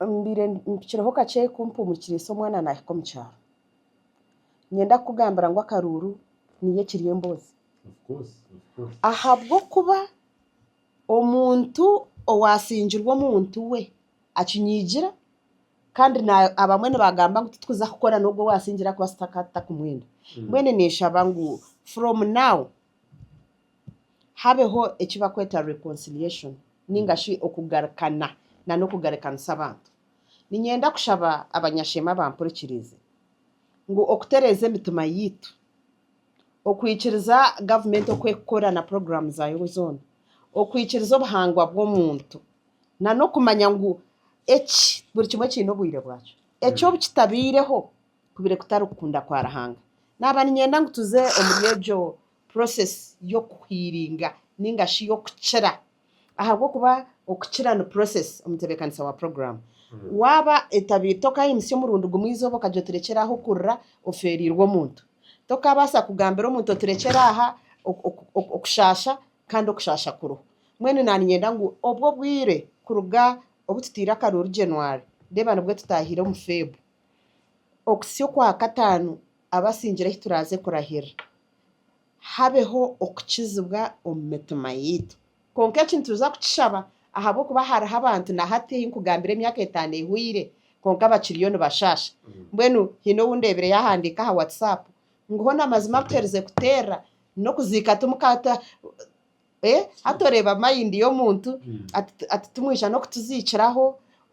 mbaire mpikireho kakye kumpumurikira esi omwana naahika omu kyaro. Niinyenda kukugambira ngu akaruuru niyo ekiri emboozi. Ahabw'okuba omuntu owaasingirwe omuntu we akinyigira kandi abamwe nibagamba ngu titwija kukora n'ogwo owaasingire ahakuba takumwenda. Mbwenu ninshaba ngu from now. habeho eki barikweta reconciliation ninga shi okugarukana n'okugarukanisa abantu. Niinyenda kushaba abanyasheema abampurikiriize ngu okutereeza emitima yaitu, okwikiriza gavumenti oku erikukora na puroguraamu zaayo zoona, okwikiriza obuhangwa bw'omuntu, n'okumanya ngu eki buri kimwe kiine obwire bwakyo. Eki obu kitabaireho, kubaire kutari kukunda kwa Ruhanga. Naaba niinyenda ngu tuze omuri egyo process y'okuhiiringa nainga shi y'okukira ahabw'okuba okukira ni process, omutebeekanisa wa puroguraamu. Waaba etabaire, tokaayimutsya omurundi gumwe eizooba okagira oti rekyera aha okurira, ofeereirwe omuntu. Tokaabaasa kugambira omuntu oti rekyera aha okushaasha kandi okushaasha kuriho. Mbwenu naaniinyenda ngu obwo obwire kuruga obu tutaire akaruuru January, reeba nibwo tutaahire omu Feb. Okusya okwa kataano abasingire ahi turaaze kurahirira, habeho okukizibwa omu mitima yaitu. Kwonka eki nituza kukishaba ahabw'okuba hariho abantu na hati ei nkugambire emyaka etaano ehweire kwonka bakiriyo nibashaasha. Mbwenu haine ou ndeebire yaahandiika aha WhatsApp ngu, Hona mazima kuherize kuteerera n'okuziika Hati oreeba mind y'omuntu ati timwija n'okutuziikiraho,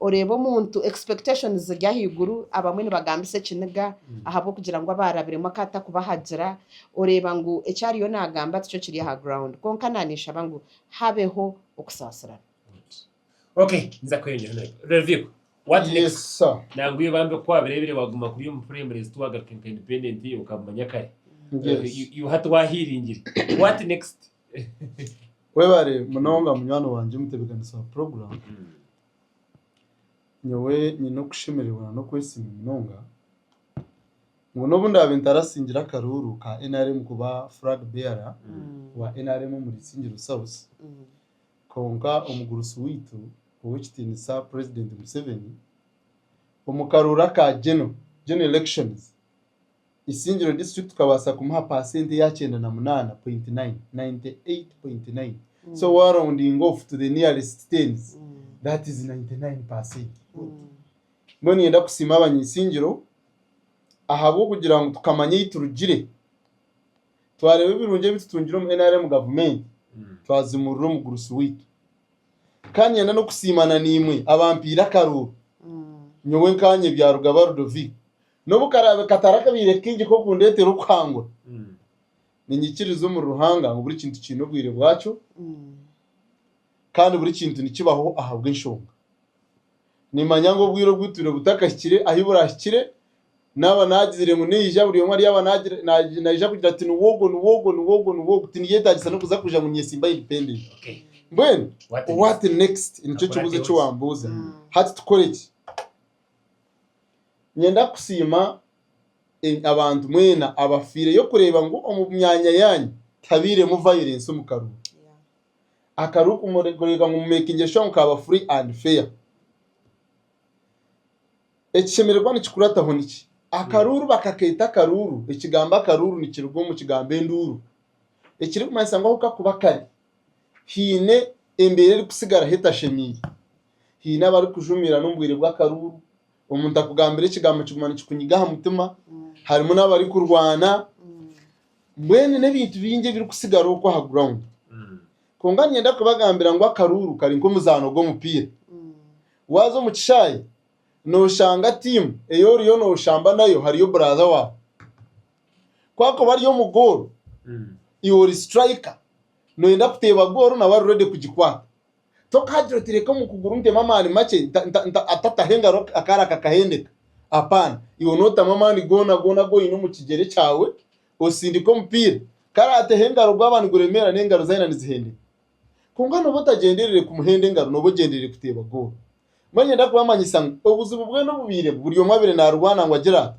oreeba omuntu expectations ziri ahaiguru, abamwe nibagambisa ekiniga ahabw'okugira ngu abaarabiremu akaba atakubahagira, oreeba ngu eki ariyo naagamba tikyo kiri aha ground. Kwonka naaniinshaba ngu habeho okusaasirana. Okay, nza kweyongera nayo. Reviko, what Yes, next? sir. Nangwa iyo bambi kwabirebire waguma kuri omu primary zitu wagaruka nka independent iyo ukabimanya kare. Yes. You- you hati wahiringire. What next? Webare munonga munywani wangye omutebeekanisi wa program. Nyowe nyine okushemererwa na n'okwesiima munonga ngu n'obu ndaabe ntarasingire akaruuru ka NRM kuba flag bearer wa NRM omu Isingiro South, Kwonka omugurusi waitu ow'ekitiinisa Purezidenti Museveni, omu karooro aka Geno, General Elections, Isingiro District tukabaasa kumuha paasenti ya kyenda na munaana point nine, ninety eight point nine, so wa roundinga off to the nearest tens, that is ninety nine percent. Mbwenu niinyenda kusiima Abanya-Isingiro ahabw'okugira ngu tukamanya ei turugire. twareeba ebirungi ebi tutungire omu nrm gavumenti twazimurira omu gurusi waitu kandi nyenda n'okusiima na naimwe abampaire akaruuru nyowe nkanye byarugaba Ludovic n'obu karaabe katari akabaire kaingi k'okundeetera okuhangura ninyikiriza omuri Ruhanga ngu buri kintu kiine obwire bwakyo kandi buri kintu nikibaho ahabw'enshonga nimanya ngu obwire obu turimu butakahikire ahu buraahikire Naaba naagizire ngu naija, buri omwe aryaba naija kugira ati, Niwe ogwo, niwe ogwo, niwe ogwo, niwe ogwo. Tiniyeetaagisa n'okuza kugira ngu nyesimbayo independent. Mbwenu what next? Nikyo kibuuzo eki waambuuza. Hati tukore ki? Niinyenda kusiima abantu mwena abafiireyo kureeba ngu omu myanya yaanyu tihabairemu violence omu karuuru. Akaruuru kureeba ngu mu- makingire sure ngu kaaba free and fair. Ekishemererwa nikikurataho niki? Akaruuru bakaketa akaruuru. Ekigambo akaruuru nikiruga omu kigambo enduuru ekirikumanyisa ngu ahu kakuba kari haine embeera erikutsigaraho etashemeire. Haine abarikujumiirana omu bwire bw'akaruuru, omuntu akugambira ekigambo kiguma nikikunyiga aha mutima, harimu n'abarikurwana, mbwenu n'ebintu bingi ebirikutsigara okwo aha ground. Kwonka niinyenda kubagambira ngu akaruuru kari nk'omuzaano gw'omupiira. Waaza omu kishaayi nooshanga tiimu ei oriyo nooshamba nayo hariyo buraatha waawe. Ku arikuba ari omu gooro, iwe ori siturayika nooyenda kuteeba gooro nawe ari reedi kugikwata. Tokagira oti reka omu kuguru ntemu amaani makye atataho engaro akaara kakahendeka. Apaana, iwe nootamu amaani goona goona agu oine omu kigyere kyawe osindike omupiira. Ku araateho engaro gwaba niguremeera n'engaro ze aine nizihendeka. Kwonka nooba otagyendereire kumuhenda engaro nooba ogyendereire kuteeba goolo. Mbwenu nyenda kubamanyisa ngu obuzibu bwena obubairemu buri omwe abaire naarwana ngu agire ata?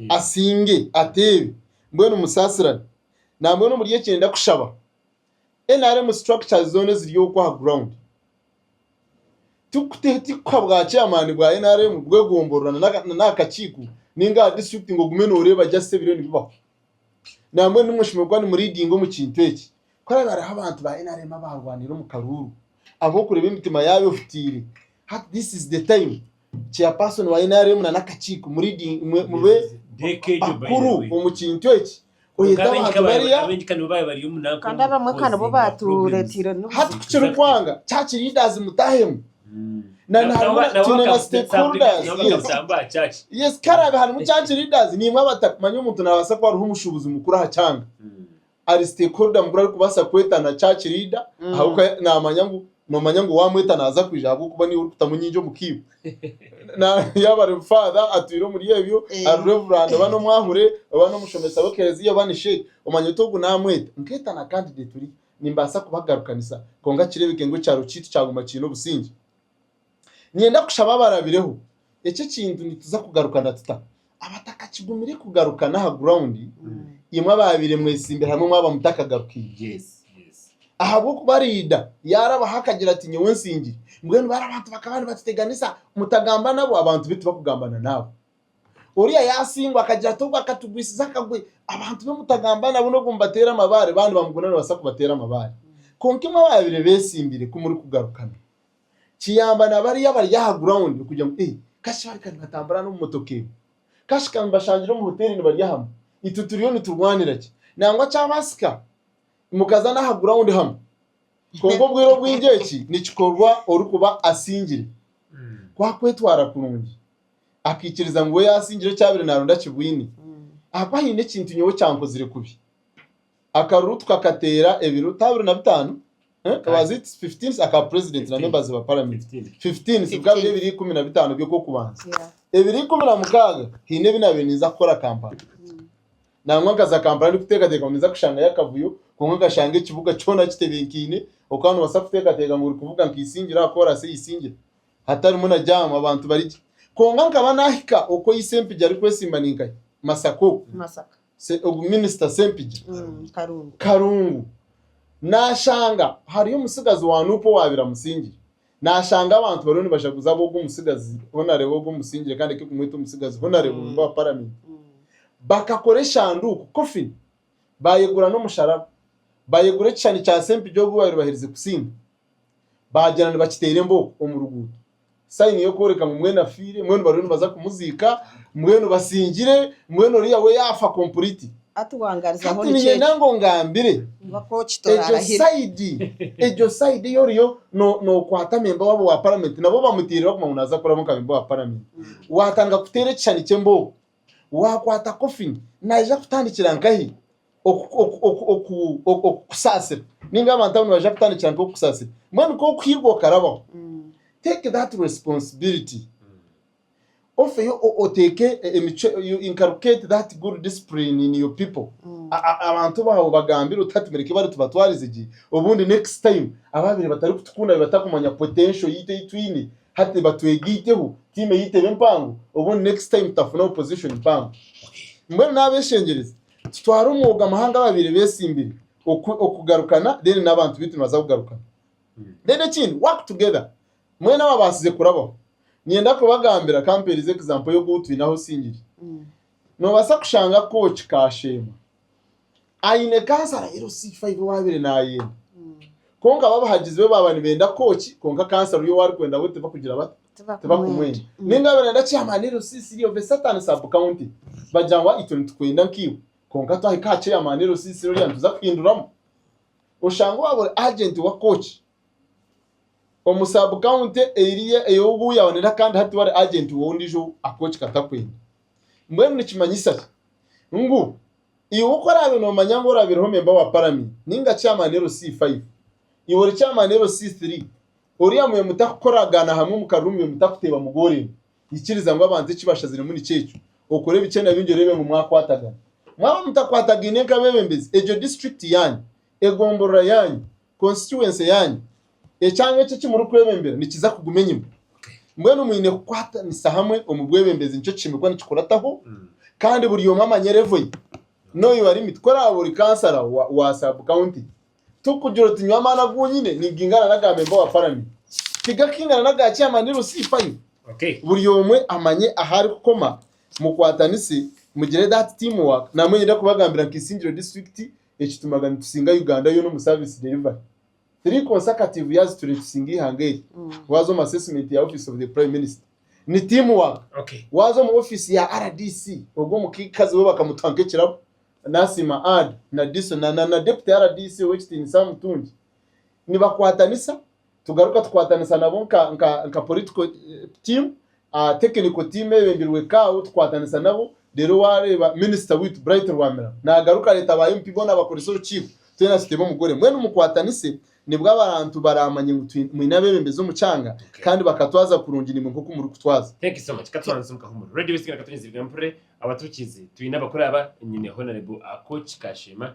Asinge, ateebe. Mbwenu musaasirane. Nambwenu omuri eki niinyenda kushaba nrm structures zoona eziri okwo aha ground tikuha bwa chairman bwa nrm bw'egomborola nari aha kakiiko nainga aha district ngu ogume nooreeba just ebiriyo nibibaho. Nambwenu nimwe mushemereire kuba nimuridinga omu kintu eki. Ku hariba hariho abantu ba nrm abaarwanire omu karuuru ahabw'okureeba emitima yaabo ehutiire, hati this is the time chairperson wa nrm na n'akakiiko mu leading mwe mube bakuru omu kintu eki oyete abantu bariya Kandi abamwe ka nibo baatureeteire hati ku n'obuzibu. kirikwanga church leaders mutahemu na na harimu na twine na stakeholders yes yes ku hariba harimu church leaders niimwe abatakumanya omuntu naabaasa kuba ari omushuubuzi mukuru aha kyanga ari stakeholder mukuru arikubaasa kwetana church leader ahabw'okuba naamanya ngu noomanya ngu waamweta naaza kwija ahabw'okuba niiwe orikutamu nyingi omu kiibo. Yaaba ari father atwire omuri ebyo, ari reverand oba n'omwahure oba n'omushomesa w'ekereziya oba ni sheikh, omanya oti ogu naamweta nkeeta na candidate ori nimbaasa kubagarukanisa kwonka kireebeke ngu ekyaro kyaitu kyaguma kiine obusingye. Niinyenda kushaba abarabireho eki ekintu nituza kugarukana tuta? Abatakakigumire kugarukana aha gurawundi, imwe abaabaire mwesimbire hamwe mwaba mutakagarukiire. Ahabw'okuba Riida yaarabaho akagira ati, Nyowe nsingire. Mbwenu baaba abantu bakaba nibatuteganisa, mutagamba nabo, abantu baitu bakugambana naabo. Oriya yaasingwa akagira ati, Ogwo akatugwisize akagwe, abantu be mutagamba nabo n'obu mubateera amabaare, baaba nibamuguna nibabaasa kubateera amabaare. Kwonka imwe abaabaire beesimbire, ku murikugarukana, Kiyamba na bariya abari aha gurawundi kugira ngu, Ei, kashi bari ka nibatambura n'omu motoka egi? Kashi ka mbashangire omu hoteeri nibarya hamwe? Itwe turiyo niturwanira ki? Nangwa kyabaasika mukaza n'aha gurawundi hamwe. Kwonka obwire obwingi eki nikikorwa orikuba asingire. Ku akwetwara kurungi, akaikiriza ngu we yaasingire eki abaire naaronda akibwine, ahabw'okuba haine ekintu nyowe ekyankozire kubi. Akaruru tukakateera ebiruta abiri na bitaano, aka purezidenti na members ba paramenti ebikaba biri ebiri ikumi na bitaano by'okw'okubanza. Ebiri ikumi na mukaaga haine ebi naabaire ninza kukora Kampala. Nangwa nkaza Kampala ndikuteekateeka ngu ninza kushangayo akavuyo kwonka nkashanga ekibuga kyona kitebekaine oku waaba noobaasa kuteekateeka ngu orikuvuga nka Isingiro aha koorasi ei Isingiro hatarimu na jaamu abantu bari gye. Kwonka nkaba naahika oku Isempija arikwesimba ninkahi, Masaka oku. se- ogu minisita Ssempigi Mm, Karungu. Karungu nashanga hariyo omutsigazi wa Nup owaabire amusingire nashanga abantu bariyo nibajaguza ab'ogu omutsigazi honarebo ogu omusingire kandi eke kumweta omutsigazi honarebo Mm. memba wa paramenti Mm. bakakora eshanduuku coffin bayegura n'omusharaba bayegura ekishushani kya Ssempigi ogu baabire baherize kusinga baagira nibakiteera embooko omu ruguuto, sayini y'okworeka ngu mbwenu afiire, mbwenu bariyo nibaza kumuziika, mbwenu basingire, mbwenu oriya we yaafa kompuriti. Hati waangarizaho Hati nikyo niinyenda ekyo. ngu ongambire Oba kooki egyo toraarahira. sayidi egyo sayidi ei oriyo no- nookwata memba waabo wa paramenti nabo bamutiirire barikugamba ngu naaza kuraba nka memba wa paramenti, waatandika kuteera ekishushani ky'embooko Waakwata kofini, naija kutandikira nkahi okukusaasira? Nainga abantu abo nibaija kutandikira nkahi okukusaasira? Mbwenu ku orikuhigwa okarabaho, take that responsibility ofeyo oteeke emicwe, you inculcate that good discipline in your people. Abantu baawe obagambire oti hati mureke bari tubatwarize gye, obundi next time abaabaire batarikutukunda batakumanya potential yaitu ei twine, Hati batwege iteho team eyeitu ebe mpango obundi next time tutafune opposition mpango. Mbwenu n'abeshengyereza tutware omwoga amahanga ababaire besimbire okugarukana then n'abantu beitu nibaza kugarukana. Then ekindi work together mwena ababaasize kurabaho ninyenda kubagambira ka mpeereze example y'ogu twine ahu osingire. Nobaasa kushanga kooki ka Sheema aine kansa arahera oti C5 ei waabaire naayenda. Kwonka bo abahagizi be baaba nibenda kukooki kwonka kansa oriya ou arikwenda we tibakugira bata? Tibakumwenda. Nainga baaba nibenda chairman LC3 of a certain sub-county, bagira ngu itwe nitukwenda nkaiwe kwonka twahika aha chairman LC3 oriya nituza kuhinduramu. Oshange waaba ori agent wa kooki omu sub-county eriya ei ou yaaba naayenda kandi hati tiwe ori agent w'ondiijo ou akooki katakwenda. Mbwenu nikimanyisa ki? Ngu, iwe oku oraabe noomanya ngu oraabireho memba wa Paramenti nainga Chairman LC five, iwe ori Chairman LC three, oriya mube mutakukoragaana hamwe omu karuru mube mutakuteeba mugooremu, ikiriza ngu abantu eki bashaziremu nikyo ekyo, okore bikye na bingi oreebe ngu mwakwatagana. Mwaba mutakwatagaine nk'abeebembezi, egyo disiturikiti yaanyu, egomborora yaanyu, Constituency yaanyu, ekyanga eki eki murikwebembera nikiza kuguma enyima. Mbwenu mwine kukwatanisa hamwe omu bwebembezi nikyo kiine kuba nikikurataho kandi buri omwe amanye levo ye. Know your limit. Ku oraabe ori kansara wa sub county, tikugira oti nyowe amaani agu nyine nigaingana n'aga memba wa paramenti. Tigakiingana n'aga chairman ni rusihi fayo. Buri omwe amanye ahu arikukoma, mukwatanise mugire that team work. Namwe niinyenda kubagambira nka Isingiro disiturikiti ekitumaga nitusinga Uganda yoona omu service delivery. Three consecutive years turi nitusinga eihanga eri. Waaza omu assessment ya office of the prime minister ni team work. Waaza omu office ya rdc ogwo omukazi we bakamutuha nk'ekirabo nasiima Ard na Diso na na deputy rdc ow'ekitiinisa Mutungi nibakwatanisa. tugaruka tukwatanisa nabo nka nka nka political team ah, technical team eyebembirwe kaawo tukwatanisa nabo rero wareeba minister witu Bright Rwamira nagaruka areta aba MP boona abakoresa orukiiko twena tuteebe omugore mbwenu mukwatanise nibwo abarantu baramanye ngu twine mwine abebembezi omu kyanga Okay. kandi bakatwaza kurungi nimwe nkoku muri kutwaza. Thank you so much. Katubanze tsimu kahumuro. Radio West Kira katunyizirwe mpurre abatukizi. Twine abakuru aba nyine Honorable Akoch Kashema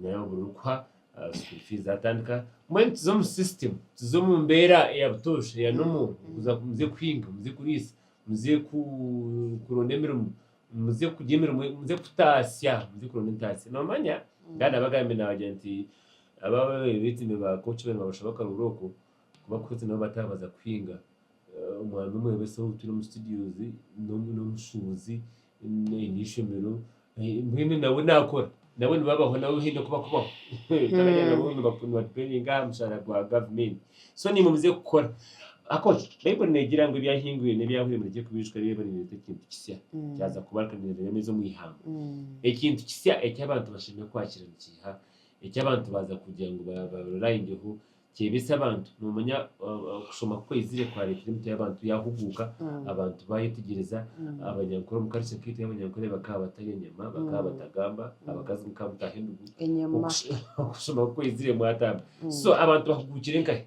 Naye obu orikuha school fees zatandika, mbwenu tuze omu system, tuze omu mbeera eya butoosha eya normal, okuza muze kuhinga, muze kuriisa, muze kuronda emirimo, muze kurya emirimo, muze kutaasya, muze kuronda entaasya. Noomanya? Ndaba naabagambira naabagira nti aba abeetimbe ba Coach bariyo nibabashaba akaruhuuro ako, Kuba Kwetu nabo bataabaza kuhinga. Omwana omwebese ou twine omu studios n'omushuubuzi aine eishomero mbwenu nawe naakora. Nabo nibabaho nabo haine oku bakubaho. Turagira nabo nibadipeendinga aha mushaara gwa gavumenti. So nimwe muze kukora. Ahakuba Baibuli neegira ngu ebyahingwire n'ebyahwire murekye kubiijuka reeba niireeta ekintu kisya. Kyaza kuba kandi nibiremeeza omu ihamba. Ekintu kisya eki abantu bashemereire kwakira nikiiha, eki abantu baaza kugira ngu ba-ba-relayingyeho? Kyebitse abantu. Noomanya okushoma ku kwaizire kwareetere emitwe y'abantu yaahuguuka, abantu baayetegyereza abanyankore omu karica kaitu ey'abanyankore bakaba batarya enyama, bakaba batagamba, abakazi mukaba mutaaha endugu. Okushoma ku kwaizire mwatamba. So abantu bahuguukire nkahi?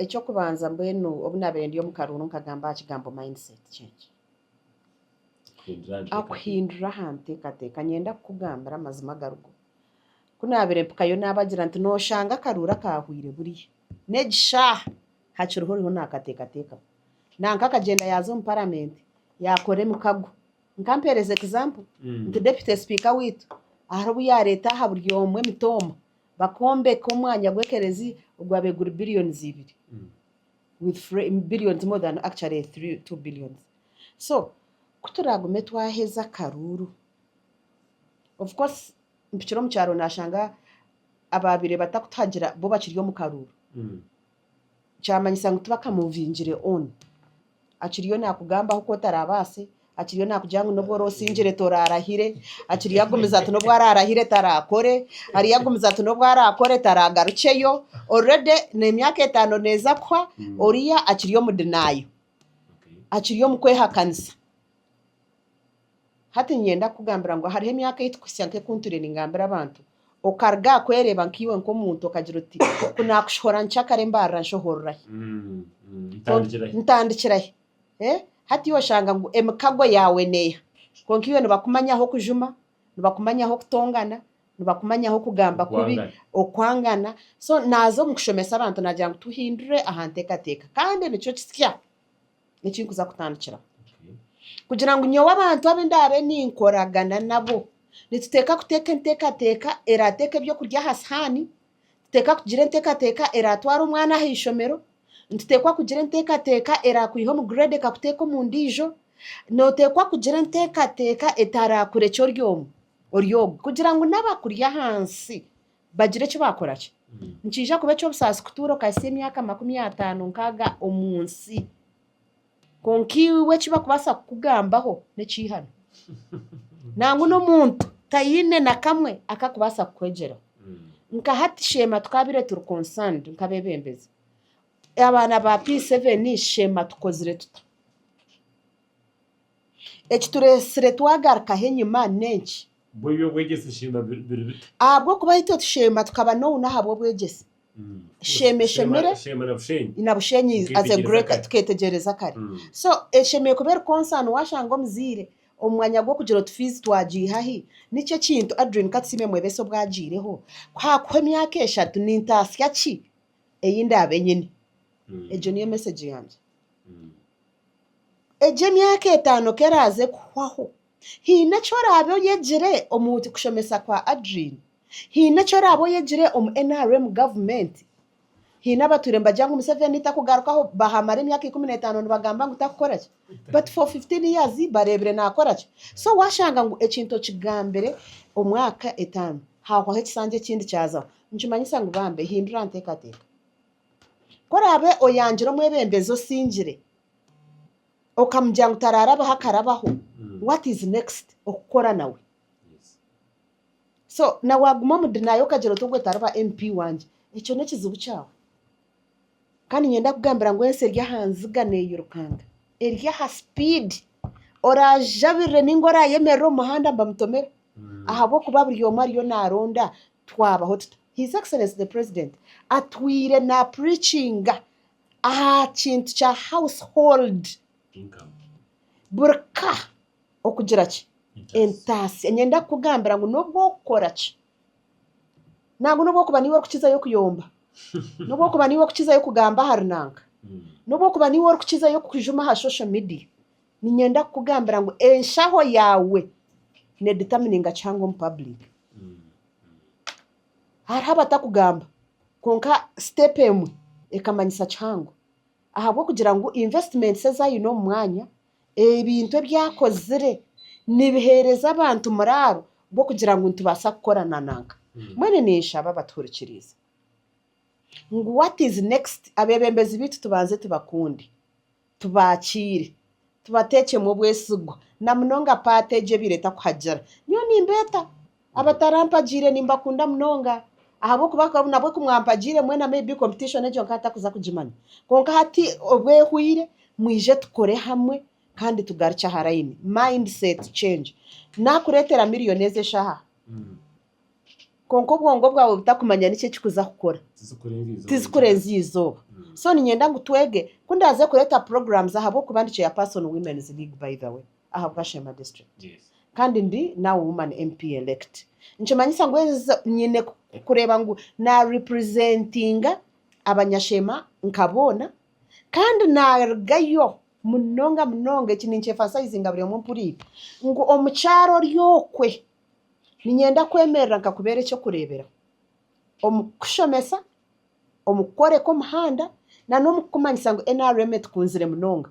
Eky'okubanza mbwenu obu naabaire ndi omu karuuru nkagamba aha kigambo mindset change. Kuhindura aha nteekateeka. Kuhindura aha nteekateeka. Niinyenda kukugambira amazima agarigo. Ku naabaire mpikayo naabagira nti, Nooshanga akaruuru akaahwaire buriya. N'egi shaaha hakiriho oriho naakateekateekaho. Nanka akagyenda yaaza omu Paramenti, yaakora emikago. Nka mpeereza egizampo, nti Deputy Sipiika waitu hariho obu yaareeta aha buri omwe emitooma bakombeka omwanya gw'ekerezia ogwaabaire guri Billions ibiri, with free, Billions more than actually three, two Billions. So, ku turaagume twaheza akaruuru, of course, mpikire omu kyaro nashanga ababire batakutuhagira bo bakiri omu karuuru kyamanyisa ngu tibaka movingire on akiriyo nakugamba ahu kotarabaase akiriyo nakugira ngu nobu orosingire torarahire akiriyo agumiza ati nobu ararahire tarakore ariyo agumiza ati nobu arakore taragarukyeyo already nemyaka etano neza kuhwa oriya akiri omu denial akiri omu kwehakanisa. Hati niinyenda kukugambira ngu hariho emyaka ei tikuhitsya nk'oku ntwire ningambira abantu. Okaruga aha kwereeba nkaiwe nk'omuntu okagira oti, Ku naakushohora nkya kare mbaarira nshohorora hi? Ntandikira hi? Hati oshanga ngu emikago yaawe neeha? Kwonka iwe nibakumanyaho kujuma, nibakumanyaho kutongana, nibakumanyaho kugamba kubi, okwangana. So naaza omu kushomesa abantu naagira ngu tuhindure aha nteekateeka. Kandi nikyo kisya. Eki nkuza kutandikiraho. Kugira ngu nyowe abantu abu ndaabe ninkoragana nabo, nituteeka kuteeka enteekateeka eraateeka eby'okurya aha sihaani, nituteeka kugira enteekateeka eraatwara omwana aha ishomero, nituteekwa kugira enteekateeka eraakwiha omu grade ekakuteeka omu ndiijo, nooteekwa kugira enteekateeka etaraakurekye ori omwe, ori ogwo kugira ngu n'abakuri ahansi Bagira eki baakora ki? Nikiija kuba eky'obusaasi kutuura okahitsya emyaka makumi ataano nkaaga omu nsi, kwonka iwe eki bakubaasa kukugambaho n'ekiihani. Nangwa n'omuntu taine na kamwe aku arikubaasa kukwegyeraho. Nka hati sheema twaabaire turi concerned nk'abeebembezi, abaana ba P7 sheema tukozire tuta? Ekitureetsire twagarukaho enyima n'enki? Mbwenu eby'obwegyese sheema biri bita? Ahabw'okuba itwe tusheema tukaba nounu ahabw'obwegyese. Sheema eshemire. Sheema na Bushenyi. Na Bushenyi as a great tuketegyereza kare. So eshemeire kuba eri concern washanga omuzaire omu mwanya gw'okugira oti fiizi twagiiha hi? Nikyo ekintu Adrine Katusiime Mwebesa obu agiireho ku haakuho emyaka eshatu nintaasya ki ei ndaabe nyine? Egyo niyo message yangye. Egyo emyaka etaano ku eraaze kuhwaho, haine eki oraabe oyegire omu kushomesa kwa Adrien? Haine eki oraabe oyegire omu nrm gavumenti? Haine abatuure nibagira ngu Museveni takugarukaho, baamara emyaka ikumi n'etaano nibagamba ngu takukora ki? But for fifteen years bareebire naakora ki? So waashanga ngu ekintu okigambire omwaka etaano, haahwaho ekisanja ekindi kyazaho, nikimanyisa ngu bambi hindura nteekateeka. Ku oraabe oyangira omwebembezi osingire, okamugira ngu taraarabaho akarabaho, what is next okukora nawe? So na waaguma omu denial okagira oti ogwe tariba MP wangye, ekyo n'ekizibu kyawe. Kandi niinye ndakugambira ngu ensi eri aha nziga neeyirukanga, eri aha sipiidi. Oraajabirire nainga oraayemerere omu muhanda mbamutomere? Ahabw'okuba buri omwe ariyo naaronda Twabaho tuta? His Excellency the President atwire na preachinga aha kintu kya house hold buri ka okugira ki? Entaasya. Ninyenda kukugambira ngu n'obu orikukora ki, nangwa n'obu orikuba niiwe orikukizayo kuyomba, n'obu orikuba niiwe orikukizayo kugamba ahari nanka, n'obu orikuba niiwe orikukizayo kujuma aha social media, Ninyenda kukugambira ngu enshaho yaawe needitamininga kihanga omu public. Hariho abatakugamba kwonka step emwe ekamanyisa kihango ahabw'okugira ngu investments ezi aine omu mwanya, ebintu ebi akozire nibiheereza abantu muraaro gw'okugira ngu nitubaasa kukora na nanka. Mbwenu ninshaba abatuhurikiriize ngu what is next? Abeebembezi baitu tubanze tubakunde. Tubaakiire. Tubateekyemu obwesigwa. Na munonga paati egyo ebaire etakuhagira. Nyowe nimbeeta. Abatarampagiire nimbakunda munonga. Ahabw'okuba nabwo ku mwampagiire mwena maybe competition egyo nkaba ntarikuza kugimanya. Kwonka hati obu ehwaire, mwije tukore hamwe kandi tugarukye aha layini. Mindset change. Naakureetera milioni ezi eshaaha. Kwonka obwongo bwawe butakumanya niki ekikuza kukora, tizikurenzya eizooba. So niinyenda ngu twege ku ndaaze kureeta programs ahabw'okuba ndi Chairperson Women's League by the way aha Bwashema District kandi ndi now Woman MP Elect. Nikimanyisa ngu enzo nyine kureeba ngu na representinga Abanyashema nka boona kandi naarugayo munonga munonga. Eki ninkyefansayizinga buri omwe mpuriire ngu omukyara ori okwe. Niinyenda kwemerera nkakubeera eky'okureeberaho omu kukushomesa, omu kukworeka omuhanda nana omu kukumanyisa ngu NRM etukunzire munonga.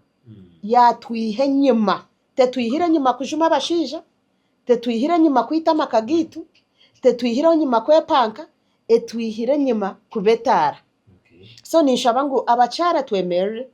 Yaatwiha enyima. Tetwihire enyima kujuma abashaija, tetwihire enyima kwita amaka gaitu, tetwihire enyima kwepanka, etwihire enyima kuba etaara. So ninshaba ngu abakyara twemerere,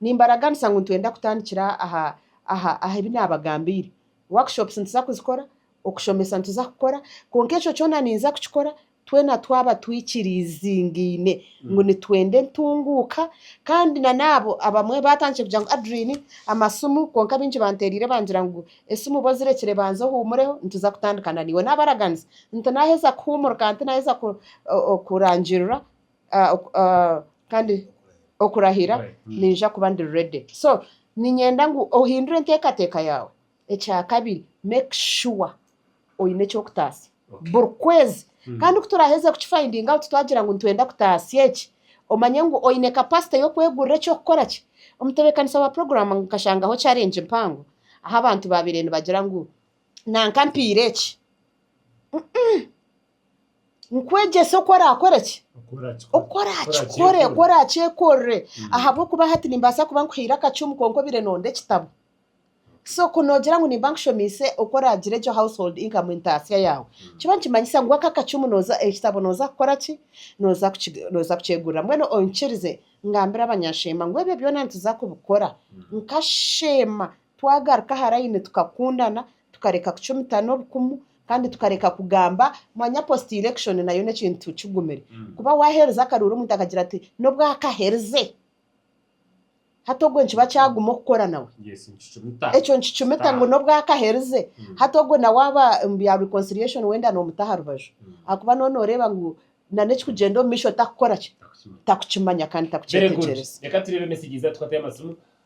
nimbaraganisa ngu nitwenda kutandikira aha aha aha ebi naabagambiire. Workshops nituza kuzikora, okushomesa nituza kukora, kwonka ekyo kyona ninza kukikora twena twaba twikiriiziingaine ngu nitwenda entunguuka. Kandi nanaabo abamwe baatandikire kugira ngu Adriine, amasimu, kwonka baingi banteeraire bangira ngu esimu ba ozirekire banza ohuumureho nituza kutandika naiwe. Naabaraganisa nti naaheza kuhuumura kandi naaheza kurangiirura kandi okurahira niija kuba ndi ready so niinyenda ngu ohindure enteekateeka yaawe. Ekyakabiri make sure oine eky'okutaasa buri kwezi kandi ku turaaheza ku ki finding out twagira ngu nitwenda kutaasa eki omanye ngu oine capacity y'okwegurira eky'okukora ki. Omutebeekanisa wa puroguraamu nkashangaho challenge mpango ahu abantu baabaire nibagira ngu nanka mpaire eki. nkwegyese oku orakore ki oku orakikore oku orakyekorere ahabw'okuba hati nimbaasa kuba nkuhaire akacumu kwonka obaire noonda ekitabo so ku noogira ngu nimba nkushomiise oku oraagira egyo house hold income entaasya yaawe kiba nikimanyisa ngu ako akacumu nooza ekitabo nooza kukora ki nooza kuki nooza kukyegurira mbwenu onkirize ngambire abanyasheema ngu ebyo byona nituza kubikora nka sheema twagaruka aha layini tukakundana Tukareka kucumitana obukumu kandi tukareka kugamba mwanya post election nayo nekintu kigumire kuba waherize akaruuru omuntu akagira ati nobwo akaherize hati ogwo nikiba kyaguma okukora nawe ekyo nikicumita ngu nobwo akaherize hati ogwo nawe aba omu bya reconciliation wenda nomuta aharubaju ahakuba noba noreeba ngu nana ekikugyenda omumaisho takukoraki takukimanya kandi takukyetekyereza.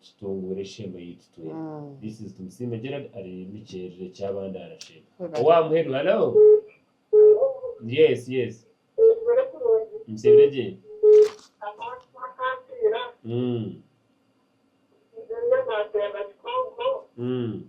tutunguura esheema yaitu twena. This is Tumusiime Gerald ari Mikyerere Kyabandaara Shell. Owaaha muheru Hello Yes yes Nseebire gye Umm Umm.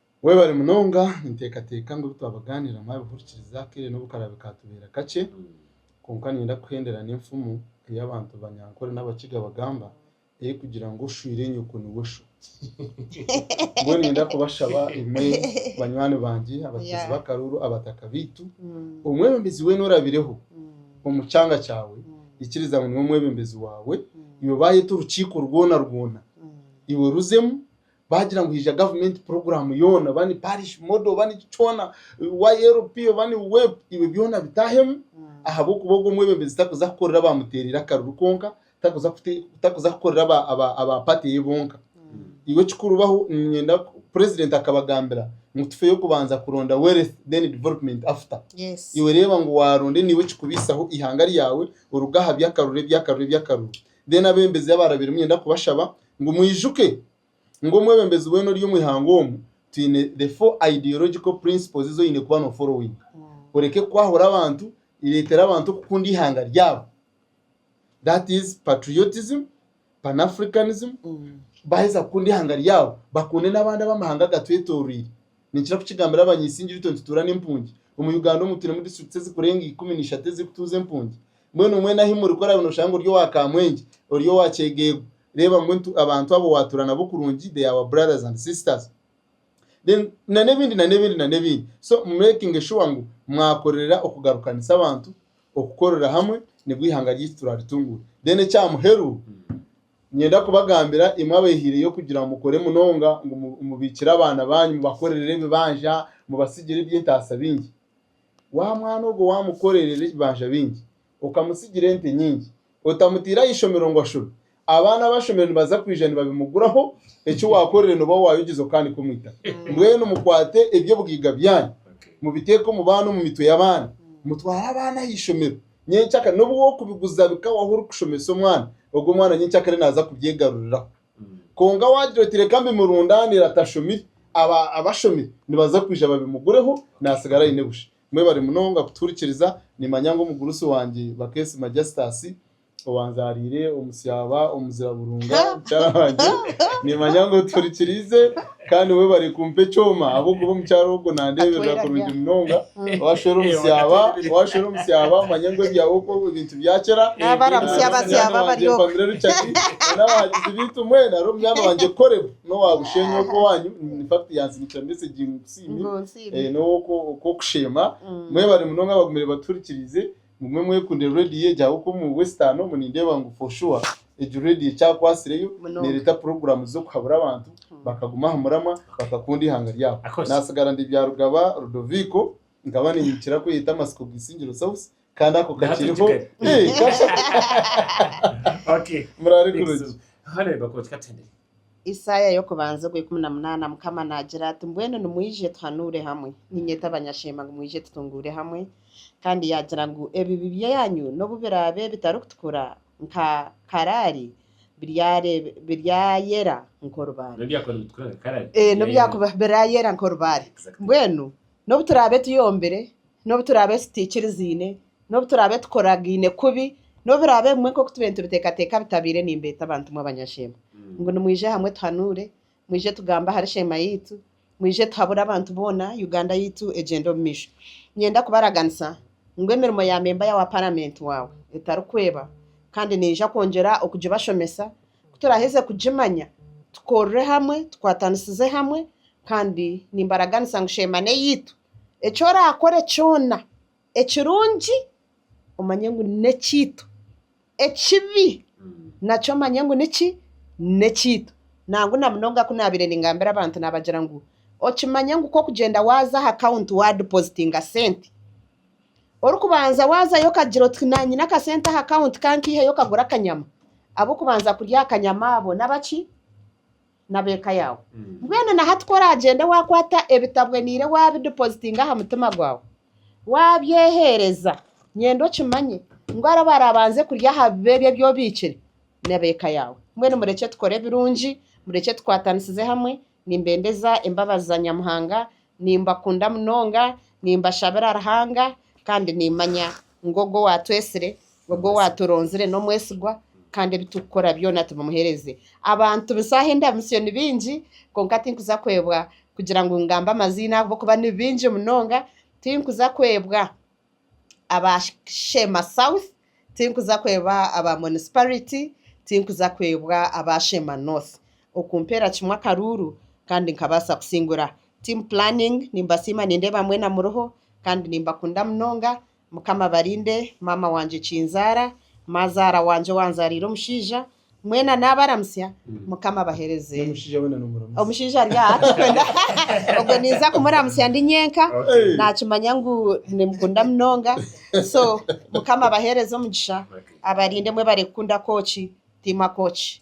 Webare munonga, ninteekateeka ngu ebi twabagaanira mwabihurikiriza kare n'obu karaabe kaatubaire kakye. Kwonka niinyenda kuhendera n'enfumu ei abantu Banyankore n'Abakiga bagamba erikugira ngu oshwire nyoko niwe sho. Mbwenu niinyenda kubashaba imwe banywani bangye, abateezi b'akaruuru, abataka baitu, omwebembezi weena orabireho omu kyanga kyawe, ikiriza ngu niwe mwebembezi waawe, iwe baayeta orukiiko rwona rwona, iwe ruzemu bagira ngu haija gavumenti puroguramu yoona oba ni parishi modo oba niki kyona ylp oba ni wep ibwe byona bitahemu ahabw'okuba ogwo omwebembezi takuza kukorera abaamuteereire akaruru kwonka takuza kute- takuza kukorera aba- aba- aba pati eye bonka iwe ekikurubaho niinyenda ku- purezidenti akabagambira ngu tufeeyo kubanza kuronda wealth then development after Yes. iwe reeba ngu waaronde niiwe ekikubiisaho eihanga ryawe oruge aha by'akaruru eby'akaruru eby'akaruru then abembezi abaarabiremu niinyenda kubashaba Ngu mwijuke ngu omwebembezi weena ori omu ihanga omu twine the four ideological principles ezi oine kuba no followinga. Oreke kwahura abantu, reetera abantu okukunda ihanga ryabo. That is patriotism, panafricanism, baaheza kukunda ihanga ryabo bakunde n'abandi ab'amahanga agatwetoroire. Ninkira kukigambira abanyaisingireitwe nitutuura n'empungi. Omu Uganda omu twinemu districts ezikurenga ikumi na ishatu ezirikutuuza empungi. Mbwenu mwena ahi muri, ku oraabe nooshanga ori owa kaamwenje, ori owa kyegeegu, reeba ngu abantu abo waatura nabo kurungi, they are our brothers and sisters. Then na n'ebindi na n'ebindi na n'ebindi. So mumeekinge shuwa ngu mwakorerera okugarukanisa abantu, okukorera hamwe nibwo eihanga ryaitu turaaritunguure. Then ekya muheru, niinyenda kubagambira imwe abaihireyo kugira ngu mukore munonga ngu mubiikire abaana baanyu, mubakorerere ebibanja, mubatsigire eby'entaasa bingi. Wa mwana ogwo waamukorerera ebibanja bingi, okamutsigira ente nyingi, otamutaire aha ishomero ngu ashome, abaana abashomire nibaza kwija nibabimuguraho, eki waakorire nooba waayogyezo okaanika omu itaka. Mbwenu mukwate eby'obugaiga byanyu, mubiteeke omu baana omu mitwe y'abaana, mutware abaana aha ishomero, nyenkya kare n'obu waakubiguza bikawaho orikushomesa omwana, ogwo mwana nyenkya kare naaza kubyegaruriraho. Kwonka waagira oti reka mbimurundaanire atashomire, abo abashomire nibaza kwija babimugureho naatsigara aine busha. Mwebare munonga kutuhurikiriza. Niimanya ngu omugurusi wangye Bakesima Justus owanzaariire omu Syaba, Omuzira Burunga, mukyara wangye, niimanya ngu otuhurikiriize. Kandi webare kumpa ekyoma ahabw'okuba omukyara ogwo nandeberera kurungi munonga. Washwera omu syaba, washwera omu syaba manya ngu ebyawe okwo ebintu bya kera. Nabaramutsya basyaba bari oku. Mpamire Richard na n'abahagizi baitu mwena ari omunyaana wangye Koreb n'owa Bushenyi ogwo owanyu. In fact yantsindikira message ngu ngu nsiime. N'ow'oku Kusheema. Mwebare munonga abagumire batuhurikiriize. Mugume mwekundire radio egi ahabw'okuba omu western omu nindeeba ngu for sure egi radio ekyakwasireyo Munonga. nereeta puroguramu z'okuhabura abantu bakaguma aha muramwa bakakunda eihanga ryabo. Of course. Natsigara ndi Byarugaba Rudoviko nkaba ninyikira kweyeta Amasiko Bwisingiro South kandi ako Naha turi kakiriho. Kigali. Eh, kasha- Okay. Muraare Thanks. kurungi. Honorable Kooti, katende. Isaaya y'okubanza ogwa ikumi na munaana, Mukama naagira ati, Mbwenu nimwije tuhanuure hamwe, niinyeta abanyasheema ngu mwije tutunguure hamwe, kandi yaagira ngu ebibi byanyu n'obu biraabe bitarikutukura nka karaali, biryayera nk'orubaare. N'obu byakuba biraayera nk'orubaare. Mbwenu n'obu turaabe tuyombire, n'obu turaabe tutaikirizaine, N'obu turaabe tukoragaine kubi, n'obu biraabe bimwe nk'oku tube nitubiteekateeka bitabaire, nimbeeta bantumwe abanyasheema ngu nimwije hamwe tuhanuure, mwije tugambe ahari sheema yaitu, mwije tuhabure abantu boona Uganda yaitu egyende omu maisho. Niinyenda kubaraganisa ngu emirimo ya memba ya wa Paramenti waawe etarikweba kandi niija kwongyera okugibashomesa ku turaaheze kugimanya tukorere hamwe, tukwatanisize hamwe kandi nimbaraganisa ngu sheema n'eyaitu, eki oraakore kyona, Ekirungi omanye ngu n'ekyaitu, ekibi nakyo omanye ngu niki? N'ekyaitu. Nangwa na munonga ku naabaire ningambira abantu naabagira ngu, okimanya ngu ku orikugyenda waaza aha kawunti waadipozitinga sente, orikubanza waazayo okagira oti nyine akasente aha kawunti ka nkaiheyo kagure akanyama, ab'okubanza kurya aha kanyama abo nabaki? n'ab'eka yaawe. Mbwenu na hati ku oraagyende waakwata ebitabweniire waabidipozitinga aha mutima gwawe, waabyeheereza, nyenda okimanye ngu abo abaraabanze kurya aha bibebe ebi obiikire n'ab'eka yaawe. Mbwenu murekye tukore ebirungi, murekye tukwatanisize hamwe. Nimbendeza embabazi za Nyamuhanga, nimbakunda munonga, nimbashabira Ruhanga, kandi nimmanya ngu Ogwo owaatwetsire, Ogwo owaaturonzire n'omwesigwa, kandi ebi turikukora byona tubimumuheereze. Abantu eshaaha endamutsyo ni baingi, kwonka tinkuza kwebwa kugira ngu ngambe amaziina ahabw'okuba ni baingi munonga. Tinkuza kwebwa aba Sheema South, tinkuza kwebwa aba Monisipariti, tinkuza kwebwa aba Sheema North. Okumpeera kimwe akaruuru kandi nkabaasa kusingura team planning nimbasiima nindeeba mwena muriho kandi nimbakunda munonga mukama abarinde maama wangye kinzaara mazaara wangye owanzaariire omushaija mwena nabaramutsya mukama abahereze omushaija ari aha tikwenda ogwe ninza kumuramutsya ndi nyenka nakimanya ngu nimukunda munonga so mukama abahereze omugisha abarinde mwebare kukunda kooki team akooki.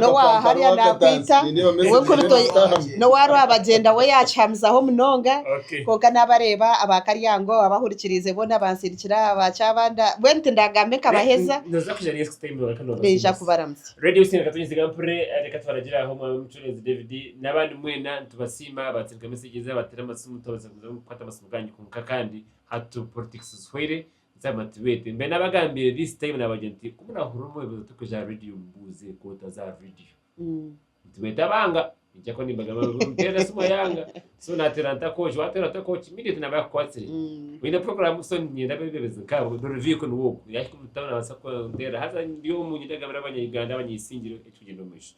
n'owaaha hariya naakwita, iwe kuri toi, n'owa rwabagyenda we yaakihamizaho munonga, kwonka naabareeba aba Karyango abahurikiriize boona bansindikira aba Kyabanda, mbwenu tindaagamba nkabaheza, naija kubaramutsya. Zama tibete mbe nabagambire this time nabagire nti kumurahurira omu ebibuzo turikuja aha radio mubuuze koota za radio nti bete abanga ningira ko nimbagamba ngu mutere esimu ayanga so natera ntakoki watera ntakoki immediately naba yakukwatsire Mm. oyine program so ninyenda abebebezi nkabo dore vehicle niwe ogu yahika omu town nabasa kuntera haza ndi omu ninyenda kugambira abanya Uganda abanyesingire ekikugyenda omu maisho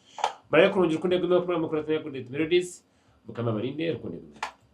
muraabe kurungi rukundo egumeho kumuraabe mukora Nairobi Melodies mukama abarinde rukundo egumeho.